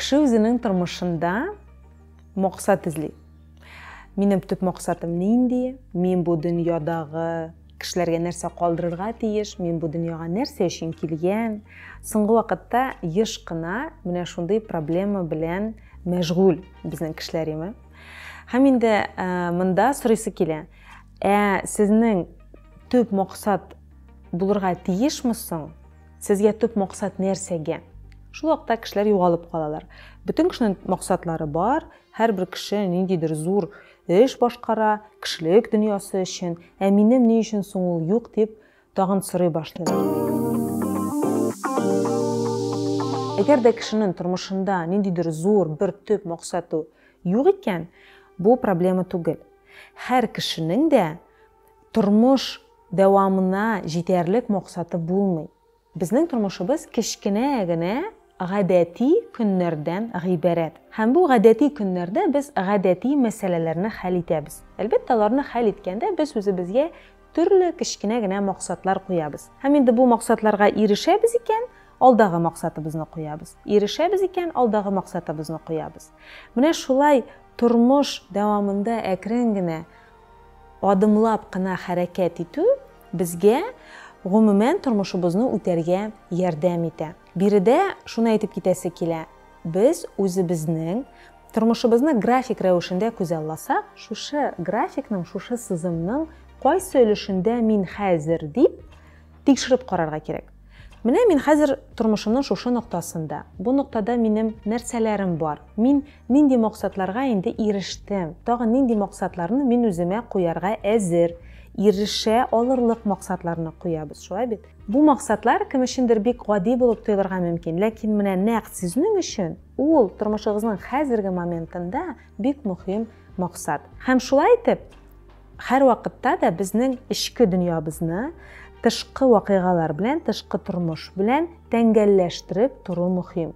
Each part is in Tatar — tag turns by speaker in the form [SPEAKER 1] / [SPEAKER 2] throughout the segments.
[SPEAKER 1] Кеше үзенең тормышында максат эзли. Минем төп максатым нинди? Мин бу дөньядагы кешеләргә нәрсә калдырырга тиеш? Мин бу дөньяга нәрсә өчен килгән? Соңгы вакытта еш кына менә шундый проблема белән мәшгуль безнең кешеләр име? Һәм инде монда сорыйсы килә. Ә сезнең төп максат булырга тиешме соң? Сезгә төп максат нәрсәгә? Шул вакытта кешеләр югалып калалар. Бөтен кешенең максатлары бар, һәрбер кеше ниндидер зур эш башкара, кешелек дөньясы өчен, ә минем ни өчен соң ул юк дип тагын сорый башлый. Әгәр дә кешенең тормышында ниндидер зур бер төп максаты юк икән, бу проблема түгел. Һәр кешенең дә Тормыш дәвамына җитәрлек максаты булмый. Безнең тормышыбыз кечкенә генә гадәти көннәрдән гыйбарәт. Һәм бу гадәти көннәрдә без гадәти мәсьәләләрне хәл итәбез. Әлбәттә, аларны хәл иткәндә без үзебезгә төрле кечкенә генә максатлар куябыз. Һәм инде бу максатларга ирешәбез икән, алдагы максатыбызны куябыз. Ирешәбез икән, алдагы максатыбызны куябыз. Менә шулай тормыш дәвамында әкрен генә Адымлап кына хәрәкәт итү безгә, гомумән, тормышыбызны үтәргә ярдәм итә. Биредә шуны әйтеп китәсе килә, без үзебезнең тормышыбызны график рәвешендә күзалласак, шушы графикның, шушы сызымның кайсы өлешендә мин хәзер дип тикшереп карарга кирәк. Менә мин хәзер тормышымның шушы ноктасында. Бу ноктада минем нәрсәләрем бар? Мин нинди максатларга инде ирештем? Тагын нинди максатларны мин үземә куярга әзер? Ирешә алырлык максатларны куябыз, шулай бит? Бу максатлар кем өчендер бик гади булып тоелырга мөмкин, ләкин менә нәкъ сезнең өчен ул тормышыгызның хәзерге моментында бик мөһим максат. Һәм шулай итеп, Һәрвакытта да безнең эчке дөньябызны тышкы вакыйгалар белән, тышкы тормыш белән тәңгәлләштереп тору мөһим.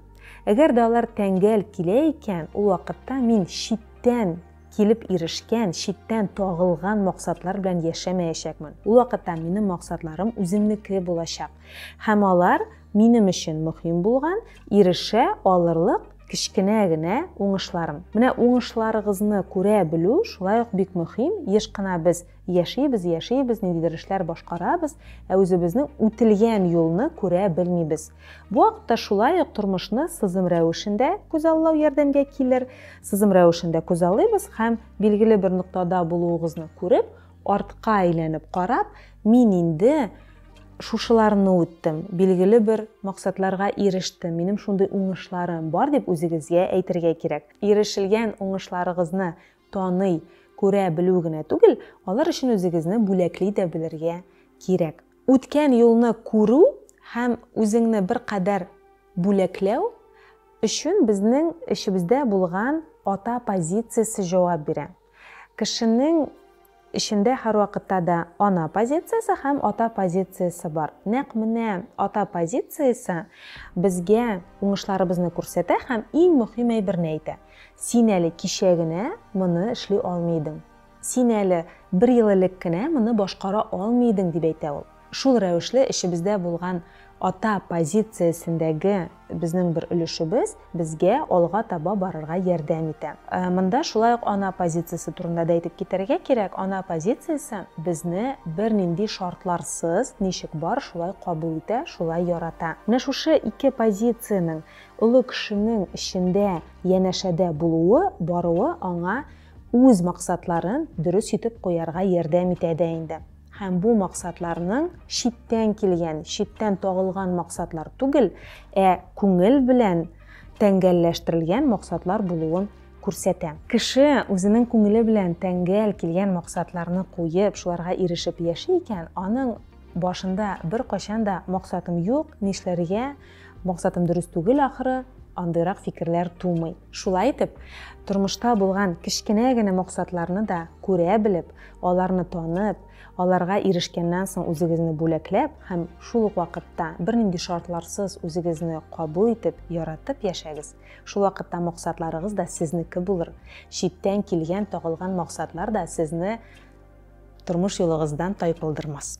[SPEAKER 1] Әгәр дә алар тәңгәл килә икән, ул вакытта мин читтән килеп ирешкән, читтән тагылган максатлар белән яшәмәячәкмен. Ул вакытта минем максатларым үземнеке булачак. Һәм алар Минем өчен мөһим булган, ирешә алырлык кечкенә генә уңышларым. Менә уңышларыгызны күрә белү шулай ук бик мөһим. Еш кына без яшибез, яшибез, ниндидер эшләр башкарабыз, ә үзебезнең үтелгән юлны күрә белмибез. Бу вакытта шулай ук тормышны сызым рәвешендә күзаллау ярдәмгә килер. Сызым рәвешендә күзаллыйбыз һәм билгеле бер ноктада булуыгызны күреп, Артка әйләнеп карап, мин инде шушыларны үттем, билгеле бер максатларга ирештем, минем шундый уңышларым бар, дип үзегезгә әйтергә кирәк. Ирешелгән уңышларыгызны таный, күрә белү генә түгел, алар өчен үзегезне бүләкли дә белергә кирәк. Үткән юлны күрү һәм үзеңне беркадәр бүләкләү өчен безнең эчебездә булган ата позициясе җавап бирә. Кешенең эчендә һәрвакытта да ана позициясе һәм ата позициясе бар. Нәкъ менә ата позициясе безгә уңышларыбызны күрсәтә һәм иң мөһим әйберне әйтә, Син әле кичә генә моны эшли алмый идең. Син әле бер ел элек кенә моны башкара алмый идең, дип әйтә ул. Шул рәвешле эчебездә булган ата позициясендәге безнең бер өлешебез безгә алга таба барырга ярдәм итә. Монда шулай ук ана позициясе турында да әйтеп китәргә кирәк, ана позициясе безне бернинди шартларсыз, ничек бар, шулай кабул итә, шулай ярата. Менә шушы ике позициянең олы кешенең эчендә янәшәдә булуы, баруы аңа үз максатларын дөрес итеп куярга ярдәм итә дә инде. Һәм бу максатларның читтән килгән, читтән тагылган максатлар түгел, ә күңел белән тәңгәлләштерелгән максатлар булуын күрсәтә. Кеше үзенең күңеле белән тәңгәл килгән максатларны куеп, шуларга ирешеп яши икән, аның башында беркайчан да максатым юк, нишләргә, Максатым дөрес түгел ахры, андыйрак фикерләр тумый. Шулай итеп, тормышта булган кечкенә генә максатларны да күрә белеп, аларны танып, аларга ирешкәннән соң үзегезне бүләкләп һәм шул ук вакытта бернинди шартларсыз үзегезне кабул итеп, яратып яшәгез. Шул вакытта максатларыгыз да сезнеке булыр. Читтән килгән, тагылган максатлар да сезне тормыш юлыгыздан тайпылдырмас.